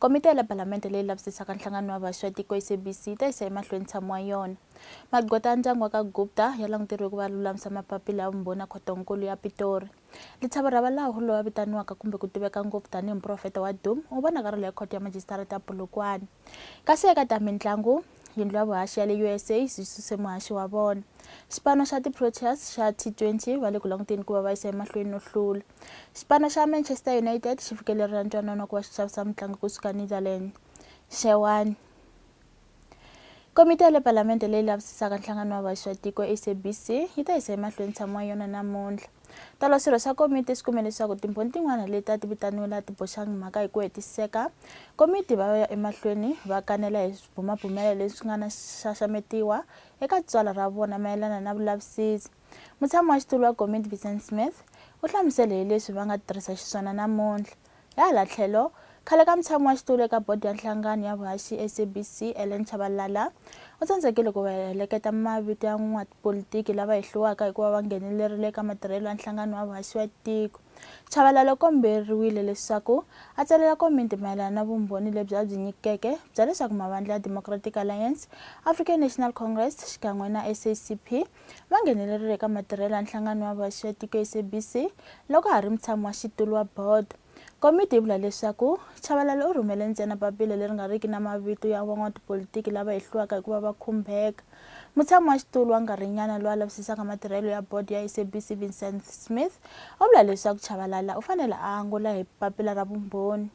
Komiti ya le Palamende leyi lavisisaka nhlangano wa vhaxi wa tiko, SABC, yi ta yisa emahlweni ntshamo wa yona. Magqweta ya ndyangu wa ka Gupta ya languteriwe ku va ya lulamisa mapapila ya vumbhoni ya khoto-nkulu ya Pitori. Lithabo Rabalaho, loyi a vitaniwaka kumbe ku tiveka ngopfu tanihi muprofeta wa Doom, u vonakarhele ekhoto ya majisitarata ya Polokwane. Kasi eka ta mintlangu, yindlu ya vuhaxi ya le USA yi suse muhaxi wa vona. Xipano xa ti-Proteas xa T20 va le ku languteni ku va va yisa emahlweni no hlula. Xipano xa Manchester United xi fikelerile ntwanano ku va xi xavisa mutlangi kusuka Netherlands xewani komiti ya le palamende leyi lavisisaka nhlangano wa vaxi va tiko sabc yi ta yisa emahlweni tshamo wa yona namuntlha tolo swirho swa komiti swi kume leswaku timbhoni tin'wana leti a ti vitaniwe laha ti boxangi mhaka hi ku hetiseka komiti va ya emahlweni va kanela hi swibumabumelo leswi nga na xaxametiwa eka tswala ra vona mayelana na vulavisisi Mutshami wa xitulu wa komiti Vincent Smith u hlamusele hi leswi va nga tirhisa xiswona namuntlha. Hi hala tlhelo, khale ka mutshami wa xitulu eka bodi ya nhlangano ya vuhaxi SABC Ellen Chabalala u tsandzekile ku va heleketa mavito ya n'watipolitiki lava hehliwaka hikuva va nghenelerile eka matirhelo ya nhlangano wa vuhaxi wa tiko. Chabalala u komberiwile leswaku a tsalela komiti mayelana na vumbhoni lebyi a byi nyikeke bya leswaku mavandla ya Democratic Alliance, African National Congress xikan'we na SACP va nghenelerile eka matirhelo ya nhlangano wa vaxi ya tiko SABC loko ha ri mutshami wa xitulu wa bodo. Komiti yi vula leswaku Chabalala u rhumele ntsena papila leri nga riki na mavito ya van'watipolitiki lava hehliwaka hi ku va va khumbeka. Mutshami wa xitulu wa nkarhinyana loyi a lavisisaka matirhelo ya bodo ya SABC Vincent Smith u vula leswaku Chabalala u fanele a angula hi papila ra vumbhoni.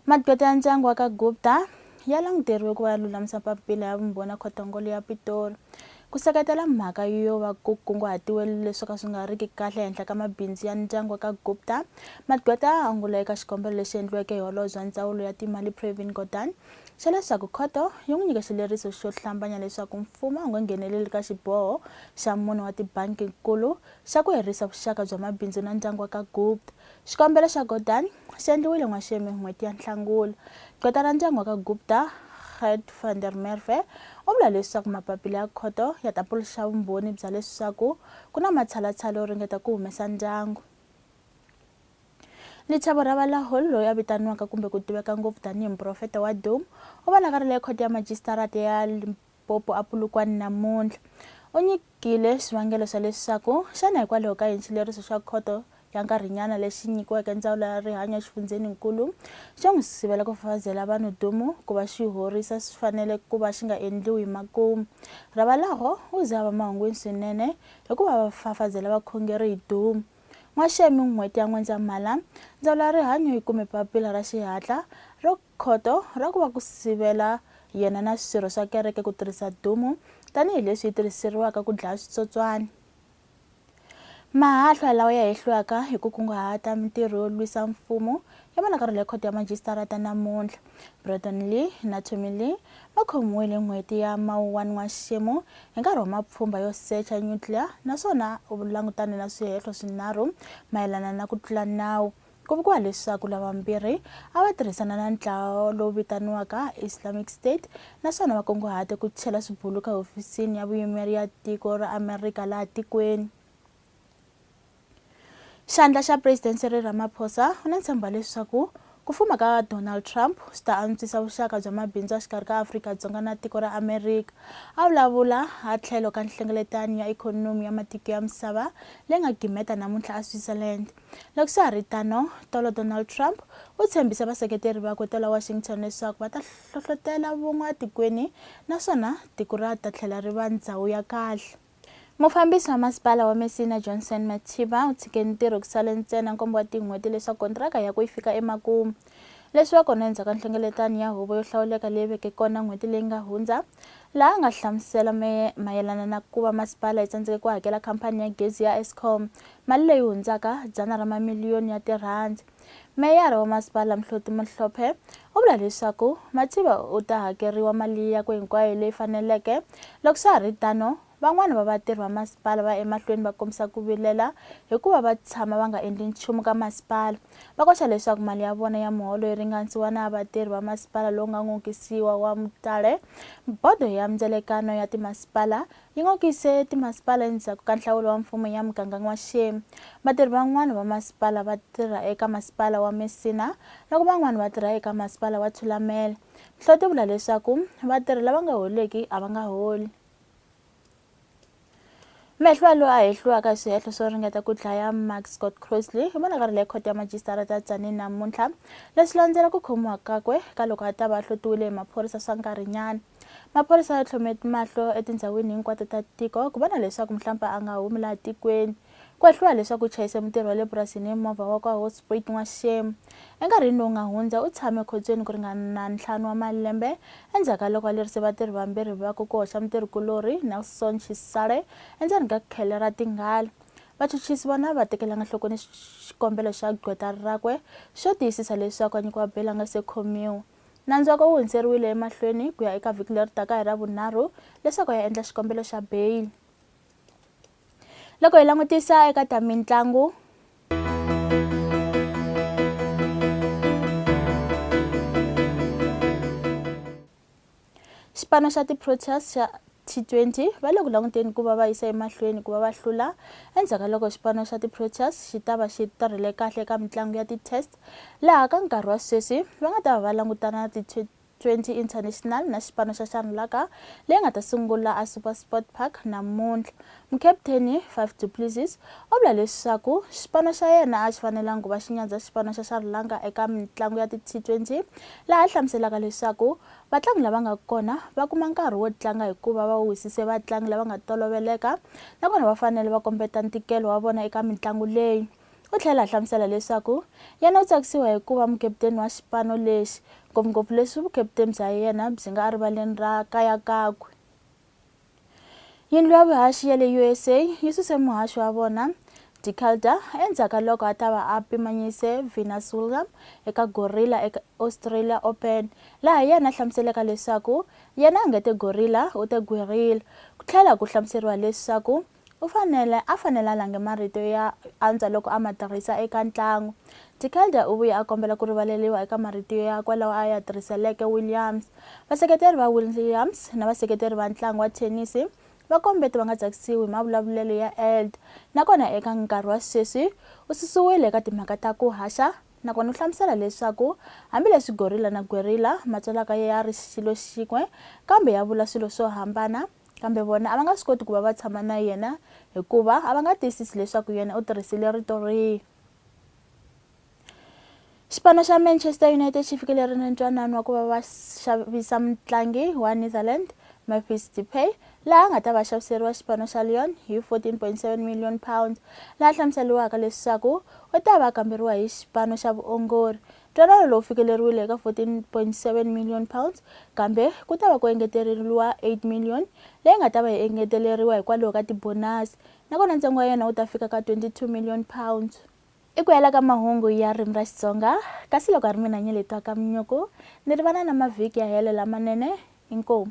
Magqweta ya ndyangu wa ka Gupta ya languteriwe ku va ya lulamisa papila ya vumbhoni ya khotongolo ya Pitori ku seketela mhaka yo va ku kunguhatiwe leswi ka swi nga riki kahle ehenhla ka mabindzu ya ndyangu wa ka Gupta. Magqweta a angula eka xikombelo lexi endliweke hi holobye wa ndzawulo ya timali Pravin Gordhan xa leswaku khoto yi n'wi nyike xileriso xo hlambanya leswaku mfumo a wu nga ngheneleli ka xiboho xa mune wa tibanki-nkulu xa ku herisa vuxaka bya mabindzu na ndyangu wa ka Gupta Xikombelo xa Gordhan xi endliwile n'waxemu hi n'hweti ya Nhlangula. Gqweta ra ndyangu wa ka Gupta, Gert van der Merwe, u vula leswaku mapapila ya khoto ya ta puluxa vumbhoni bya leswaku ku na matshalatshala yo ringeta ku humesa ndyangu. Lichavo Ravalahul, loyi a vitaniwaka kumbe ku tiveka ngopfu tanihi muprofeta wa Dhum, u vonakarile ekhoto ya majisitarata ya Popo a Polokwane namuntlha u nyikile swivangelo swa leswaku xana hikwalaho ka yini xileriso xa khoto ya nkarhinyana lexi nyikiweke ndzawulo ya rihanyo exifundzheni-nkulu xo n'wi sivela ku fafazela vanhu dumu ku va xi horisa swi fanele ku va xi nga endliwi hi makumu. Ravalaho u ze a va mahungwini swinene hikuva va fafazela vakhongeri hi dumu. N'waxemi n'hweti ya N'wendzamhala, ndzawulo ya rihanyo yi kume papila ra xihatla ro Khoto ra ku va ku sivela yena na swirho swa kereke ku tirhisa dumu tanihi leswi yi tirhiseriwaka ku dlaya switsotswani. Mahahlwa lawa ya hehliwaka hi ku kunguhata mintirho yo lwisa mfumo ya vonakarhela ya khoto ya majisitarata namuntlha. Breton Lee na Tommy Lee va khomiwile hi n'hweti ya Mawuwani N'waxemu hi nkarhi wa mapfhumba yo secha nyutliya naswona u langutane na swihehlo swinharhu mayelana na ku tlula nawu. Ku vuriwa leswaku lavambirhi a va tirhisana na ntlawa lowu vitaniwaka Islamic State naswona va kunguhate ku chela swibuluka ehofisini ya vuyimeri ya tiko ra Amerika laha tikweni. Xandla xa President Cyril Ramaphosa u na ntshemba leswaku ku fuma ka Donald Trump swi ta antswisa vuxaka bya mabindzu a xikarhi ka Afrika-Dzonga na tiko ra Amerika. A vulavula a tlhelo ka nhlengeletano ya ikhonomi ya matiko ya misava leyi nga gimeta namuntlha eSwitzerland. Loko swa ha ri tano, tolo Donald Trump u tshembise vaseketeri vakwe ta la Washington leswaku va ta hlohlotela vun'we etikweni naswona tiko ra ta tlhela ri va ndhawu ya kahle. Mufambisi wa Masipala wa Messina, Johnson Mathiba, u tshike ntirho ku sale ntsena nkombo wa tin'hweti leswaku kontiraka yakwe yi fika emakumu. Leswi va kona endzhaku ka nhlengeletano ya huvo yo hlawuleka leyi veke kona n'hweti leyi nga hundza, laha a nga hlamusela mayelana na ku va masipala yi tsandzeke ku hakela khampani ya gezi ya Eskom mali leyi hundzaka dzana ra mamiliyoni ya tirhandi. Meyara wa masipala Mhloti Mohlophe u vula leswaku Matsiba u ta hakeriwa mali yakwe hinkwayo leyi faneleke, loko swa ha ri tano Van'wana va vatirhi va masipala va ya emahlweni va kombisa ku vilela hikuva va tshama va nga endli nchumu ka masipala. Va koxa leswaku mali ya vona ya muholo yi ringanisiwa na ya vatirhi va masipala lowu nga n'okisiwa wa Mutale. Bodo ya Mindzelekano ya Timasipala yi n'okise timasipala endzhaku ka nhlawulo wa mfumo ya muganga N'waxemu. Vatirhi van'wana va masipala va tirha eka masipala wa Messina loko van'wana va tirha eka masipala wa Thulamela. Nhloti vula leswaku vatirhi lava nga holiki a va nga holi. mehlwa loyi a hehliwaka hi swihehlo swo ringeta ku dlaya mark scott crosley hi vonakari leyi khoto ya majisitara ta tsanini namuntlha leswi landzela ku khomiwa kakwe ka loko a ta va a hlotiwile hi maphorisa swa nkarhinyana maphorisa ya tlhome mahlo etindhawini hinkwato ta tiko ku vona leswaku mhlampe a nga humi laha tikweni Ku hehliwa leswaku u chayise mutirhi wa le purasini hi movha wa kwa Hosprit n'waxixemu. Enkarhini lowu nga hundza, u tshame ekhotsweni ku ringana ntlhanu wa malembe endzhaku ka loko a lerise vatirhi vambirhi vakwe ku hoxa mutirhi-kulorhi Nelson Chisale endzeni ka khele ra tinghala. Vachuchisi vona a va tekelanga enhlokweni xikombelo xa gqweta rakwe xo tiyisisa leswaku a nyikiwa beyili a nga se khomiwa. Nandzu wakwe wu hundzeriwile emahlweni ku ya eka vhiki leri taka hi Ravunharhu leswaku a ya endla xikombelo xa beyili. loko hi langutisa eka ta mitlangu xipano xa ti-proteas xa T20 va le ku languteni ku va va yisa emahlweni ku va va hlula endzhaku ka loko xipano xa ti-proteas xi ta va xi tirhile kahle eka mitlangu ya ti-test laha ka nkarhi wa sweswi va nga ta va va langutana na 20 International na xipano xa Sharnlaka leyi nga ta sungula a SuperSport Park namuntlha. Mukaputeni, Faf du Plessis, u vula leswaku xipano xa yena a xi fanelanga ku va xi nyadza xipano xa Sharnlaka eka mitlangu ya ti-T20, laha a hlamuselaka leswaku vatlangi lava nga kona va kuma nkarhi wo tlanga hikuva va wisise vatlangi lava nga toloveleka nakona va fanele va kombeta ntikelo wa vona eka mitlangu leyi. U tlhela a hlamusela leswaku yena u tsakisiwa hi ku va mukeputeni wa xipano lexi, ngopfungopfu leswi vukeputeni bya yena byi nga erivaleni ra kaya kakwe. Yindlu ya vuhaxi ya le USA yi suse muhaxi wa vona De Calder endzhaku ka loko a ta va a pimanyise Venus William eka Gorilla eka Australia Open, laha yena a hlamuseleka leswaku yena a nge te Gorilla u te Guerrilla, ku tlhela ku hlamuseriwa leswaku U fanele a fanele a lange marito ya antswa loko a ma tirhisa eka ntlangu. De Kelder u vuye a kombela ku rivaleriwa eka marito ya kwa lawa a ya tirhiseleke Williams. Vaseketeri va Williams na vaseketeri va ntlangu wa thenisi va kombete va nga tsakisiwi hi mavulavulelo ya Eld na kona eka nkarhi wa sweswi u susiwile eka timhaka ta ku haxa na kona u hlamusela leswaku hambi leswi gorilla na guerrilla ma tswalaka ya ri xilo xin'we kambe ya vula swilo swo hambana Kambe vona a va nga swi koti ku va va tshama na yena hikuva a va nga tiyisisi leswaku yena u tirhisile rito rihi. Xipano xa Manchester United xi fikelele na ntwanano wa ku va va xavisa mutlangi wa Netherlands Memphis Depay laha a nga ta va xaviseriwa xipano xa Lyon hi 14.7 million pounds laha hlamuseriwaka leswaku u ta va kamberiwa hi xipano xa vuongori Ntwanano lowu fikeleriwile eka R14.7 million kambe ku ta va ku engeteleriwa R8 million leyi nga ta va yi engeteleriwa hikwalaho ka tibonasi nakona ntsengo wa yona wu ta fika ka R22 million. I ku hela ka mahungu ya ririmi ra Xitsonga kasi loko a ri mina Nyeletwa Kamnyuku ni ri vana na mavhiki ya helo lamanene. Inkomu.